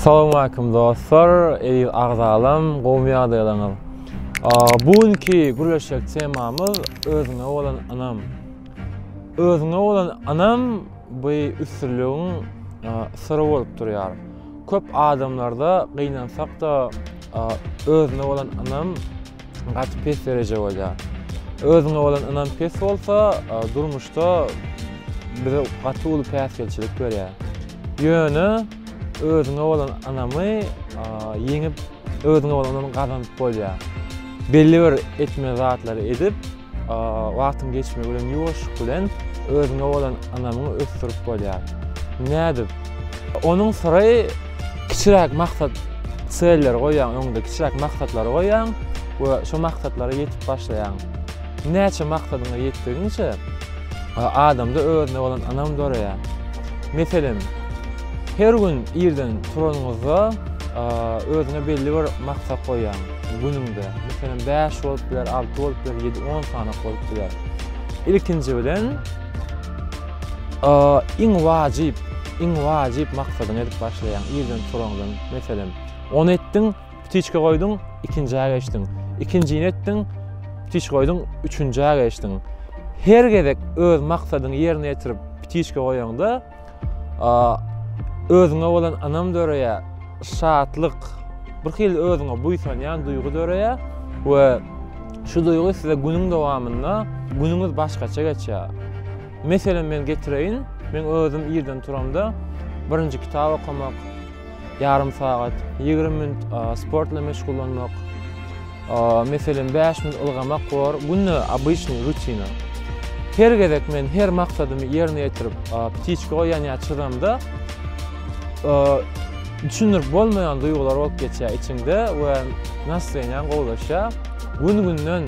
Salowmaleýkim dostlar, eziz agzalam, gowumy ýagdaýlaryňyz? Bu günki gürleşjek temamyz özüňe bolan ynam. Özüňe bolan ynam bu üstünligiň syry bolup durýar. Köp adamlarda gynansak-da özüne bolan ynam Gaty pes dereje bolýar. Özüňe bolan ynam pes bolsa, durmuşda bize gaty uly päsgelçilik berýär. Ýöne özüňe bolan ynamy ýeňip, özüňe bolan ynamy gazanyp bolýar. Belli bir etmeli zatlary edip, Wagtyň geçmegi bilen ýuwaşlyk bilen özüňe bolan ynamyňy ösdürip bolýar. Nädip? Onuň syry kiçiräk maksat selleri goýýaň, öňüňde kiçiräk maksatlary goýýaň we şu maksatlara ýetip başlaýaň. Näçe maksadyňa ýetdigiňçe adamda özüne bolan ynam döreýär. Meselem, her gün irden turanyňyzda özüňe belli bir maksat goýýaň. Günüňde, meselem, bäş bolup biler, alty bolup biler, ýedi, on sany bolup biler. Ilkinji bilen, iň wajyp, iň wajyp maksadyňy edip başlaýaň. Irden turaňdan, meselem, ony etdiň, ptiçka goýduň, ikinjä geçdiň. Ikinjini etdiň, ptiçka goýduň, üçünjä geçdiň. Her gezek öz maksadyňy ýerine ýetirip, ptiçka goýaňda, özüňe bolan ynam döreýär, şatlyk, bir hili özüňe buýsanýan duýgy döreýär we şu duýgy size günüň dowamynda günüňiz başgaça geçýär. Meselem men getireýin, men özüm irden turamda birinji kitap okamak, Ýarym sagat, ýigrimi minut sport bilen meşgullanmak, meselem, bäş minut ylgamak bor. Günde obyçnyý rutina. Her gezek men her maksadymy ýerine ýetirip, ptiçka goýan ýa çyzamda, düşündirip bolmaýan duýgular bolup geçýär içiňde we nastroýeniýaň gowulaşýar. Gün-günden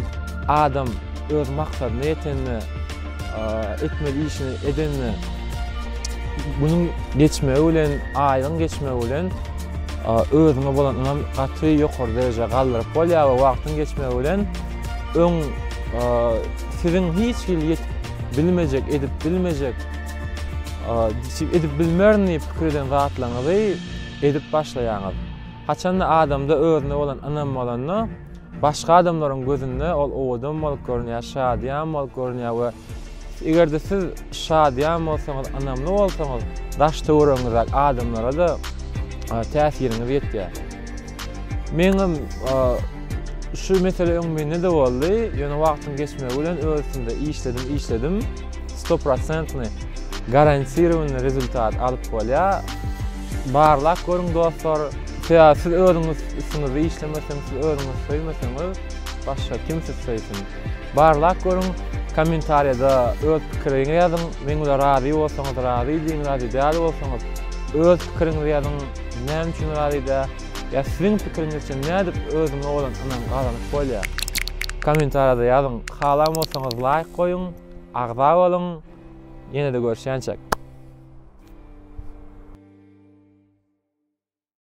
adam öz maksadyna ýetende, etmeli işini edende günüň geçmegi bilen, aýyň geçmegi bilen özüňe bolan ynam gaty ýokary derejä galdyryp bolýar we wagtyň geçmegi bilen öň siziň hiç hili ýetip bilmejek, edip bilmejek, edip bilmerin diýip pikir eden zatlaryňyzy edip başlaýaňyz. Haçanda adamda özüne bolan ynam bolanda, Başga adamlaryň gözünde ol owadan bolup görünýär, şadyýan bolup görünýär we eger-de siz şadyýan bolsaňyz, ynamly bolsaňyz, daş-töweregiňizdäki adamlara-da täsiriňiz ýetýär. Meňem şu mesele öň mende-de boldy, ýöne wagtyň geçmegi bilen öz üstümde işledim, işledim, stoprosentnyý, garantiriwanyý rezultat alyp bolýar. Barlap görüň dostlar, sebäbi siz özüňiz üstüňizde işlemeseňiz, siz özüňizi söýmeseňiz, başga kim sizi söýsün? Barlap görüň, kommentariýada öz pikiriňi ýazyň, meň bilen razy bolsaňyz razy diýiň, razy däl bolsaňyz öz pikiriňizi ýazyň, näme üçin razy däl? Ýa siziň pikiriňiz üçin nädip özüňe bolan ynam gazanyp bolýar? Kommentariýada ýazyň, halan bolsaňyz laýk goýuň, agza boluň! Ýene-de görüşýänçäk.